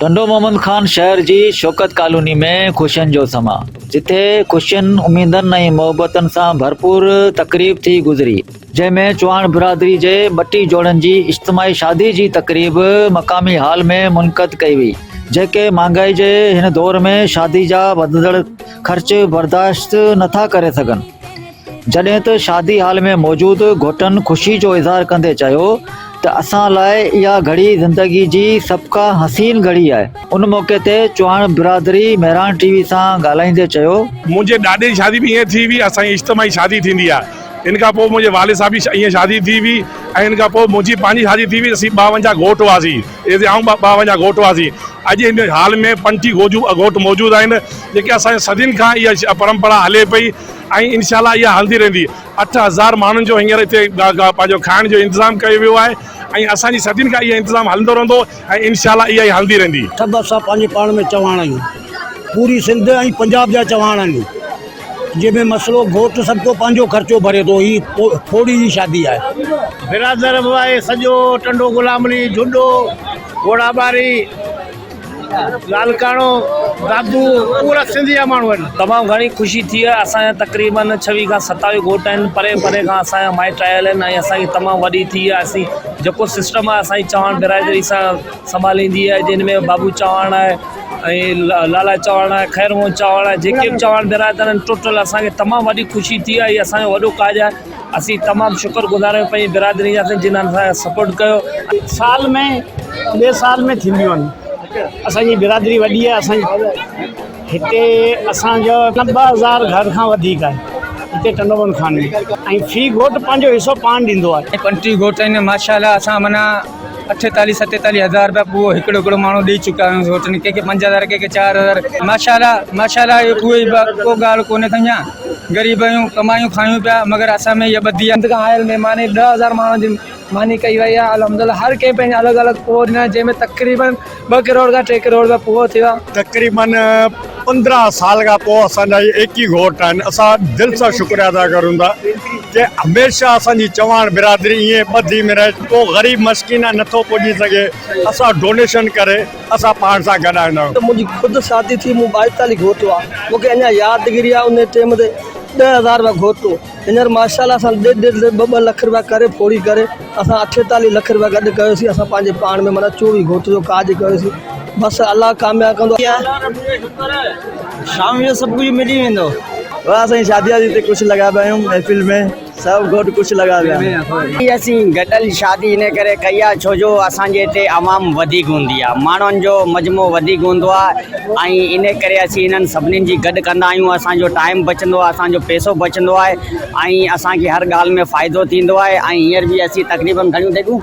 ٽنڊو محمد خان شهر جي شوڪت ڪالوني ۾ خوشين جو سماء جتي خوشين اميدن ۽ محبتن سان ڀرپور تقريب ٿي گذري جنهن ۾ چوهاڻ برادري جي ٻٽي جوڙن جي اجتماعي شادي جي تقريب مقامي هال ۾ منعقد ڪئي وئي جيڪي مهانگائي جي هن دور ۾ شادي جا وڌندڙ خرچ برداشت نٿا ڪري سگهن جڏهن ته شادي هال ۾ موجود گهوٽن خوشي جو اظهار ڪندي چيو ته اسان لاء اها گهڙي زندگي جي سڀ کان حسين گهڙي آهي ان موقعي تي چوهاڻ برادري مهراڻ ٽي وي سان ڳالهائيندي چيو منهنجي ڏاڏي جي شادي به ائين ٿي هئي اسان جي اجتماعي شادي ٿيندي آهي ان کان پوء منهنجي والد صاحب جي ائين شادي ٿي هئي ۽ ان کان پوء منهنجي پنهنجي شادي ٿي هئي اسين ٻاونجاهه گهوٽ هئاسين اي سي آئون ٻاونجاهه گهوٽ هئاسين اڄ هن هال ۾ پنجٽيهه گهوٽ موجود آهن جيڪي اسان جي صدين کان اها پرمپرا هلي پئي ۽ انشاء الله اها هلندي رهندي. اٺ هزار ماڻهن جو هينئر هتي پنهنجو کائڻ جو انتظام ڪيو ويو آهي ۽ اسان جي صدين کان اهو انتظام هلندو رهندو ۽ انشاء الله اها ئي هلندي رهندي. سڀ اسان پنهنجي پاڻ ۾ چواڻ آهيون. پوري سنڌ ۽ پنجاب جا چواڻ آهيون. جنهن ۾ مسئلو گهوٽ سڀ ڪو پنهنجو خرچو ڀري ٿو. هي ڦوڙي جي شادي آهي. برادر به آهي سڄو ٽنڊو غلام علي جهڏو گهوڙا ٻاري. لاڙڪاڻو بابو پورا سنڌ جا ماڻهو آهن. تمام گهڻي خوشي ٿي آهي اسان جا تقريبن ڇويهه کان ستاويهه گهوٽ آهن پري پري کان اسان جا مائٽ آيل آهن ۽ اسان کي تمام وڏي ٿي آهي اسين جيڪو سسٽم آهي اسان جي چوهاڻ برادري سان سنڀاليندي آهي جن ۾ بابو چوهاڻ آهي ۽ لالا چوهاڻ آهي خير موهن چوهاڻ آهي جيڪي به چوهاڻ برادر آهن ٽوٽل اسان کي تمام وڏي خوشي ٿي آهي هي اسان جو وڏو ڪاڄ آهي. اسين تمام شڪر گذار آهيون پنهنجي برادري جا جن اسان کي سپورٽ ڪيو آهي. سال ۾ ٻئي سال ۾ ٿينديون آهن اسان جي برادري وڏي آهي اسان جي هتي اسان جو ٻه هزار گهر کان وڌيڪ آهي هتي ٽنڊو بند خان ۾ ۽ في گهوٽ پنهنجو حصو پاڻ ڏيندو آهي. ۽ پنٽي گهوٽ آهن ماشاء الله اسان معنيٰ. اٺيتاليهه ستيتاليهه هزار رپيا پوء هڪڙو هڪڙو ماڻهو ڏئي چڪا آهيون سوٽ ۾ ڪنهن کي پنج هزار ڪنهن کي چار هزار ماشاالله ماشاالله اهي اهي ئي ٻه ڪو ڳالهه ڪونهي سائين جان غريب آهيون ڪمايون کايون پيا مگر اسان ۾ اها ٻڌي سنڌ کان آيل مهماني ڏهه هزار ماڻهن جي ماني ڪئي وئي آهي الحمدلله هر ڪنهن پنهنجي الڳ الڳ پورهين جنهن ۾ تقريبن ٻه ڪروڙ کان ٽي ڪروڙ رپيا پورا ٿيا. تقريباً پندرهن سال کان پوء اسان جا اهي ايڪ ئي گهوٽ آهن. اسان دل سان شڪريو ادا ڪريون ٿا ته هميشه اسان جي چواڻ برادري ائين ٻڌي ۾ رهي. ڪو غريب مسڪين نه ٿو پڄي سگهي، اسان ڊونيشن ڪري اسان پاڻ سان گڏ آڻيندا آهيون. منهنجي خود شادي ٿي مون ٻائيتاليهه گهوٽو آهي. مون کي اڃا يادگيري آهي انهي ٽيم تي ڏهه هزار رپيا گهوٽو. هينئر ماشاء الله اسان ڏيڍ ڏيڍ ٻه ٻه لک رپيا ڪري ڦوڙي ڪري اسان اٺيتاليهه لک رپيا گڏ ڪيوسين اسان پنهنجي پاڻ ۾ معنيٰ چوويهه گهوٽ جو ڪاڄ ڪيوسين بس الله ڪامياب ڪندو الله رب جو شڪر آهي شام جو سڀ ڪجهه ملي ويندو واهه سائين شادي وادي تي ڪجهه لڳا پيا آهيون محفل ۾ سڀ گهوٽ ڪجهه لڳا پيا آهن اسين گڏيل شادي ان ڪري ڪئي آهي ڇو جو اسان جي هتي عوام وڌيڪ هوندي آهي ماڻهن جو مجموعو وڌيڪ هوندو آهي ۽ ان ڪري اسين انهن سڀني جي گڏ ڪندا آهيون اسان جو ٽائيم بچندو آهي اسان جو پيسو بچندو آهي ۽ اسان کي هر ڳالهه ۾ فائدو ٿيندو آهي ۽ هينئر به اسين تقريبن گهڻيون ديڳون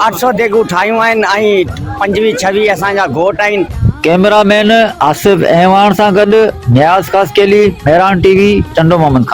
اٺ سؤ ديڳون ٺاهيون آهن ۽ پنجويهه ڇويهه اسان جا گهوٽ آهن. ڪئميرا مين آصف اعواڻ سان گڏ نياز خاصخيلي، مهراڻ ٽي وي، ٽنڊو محمد خان.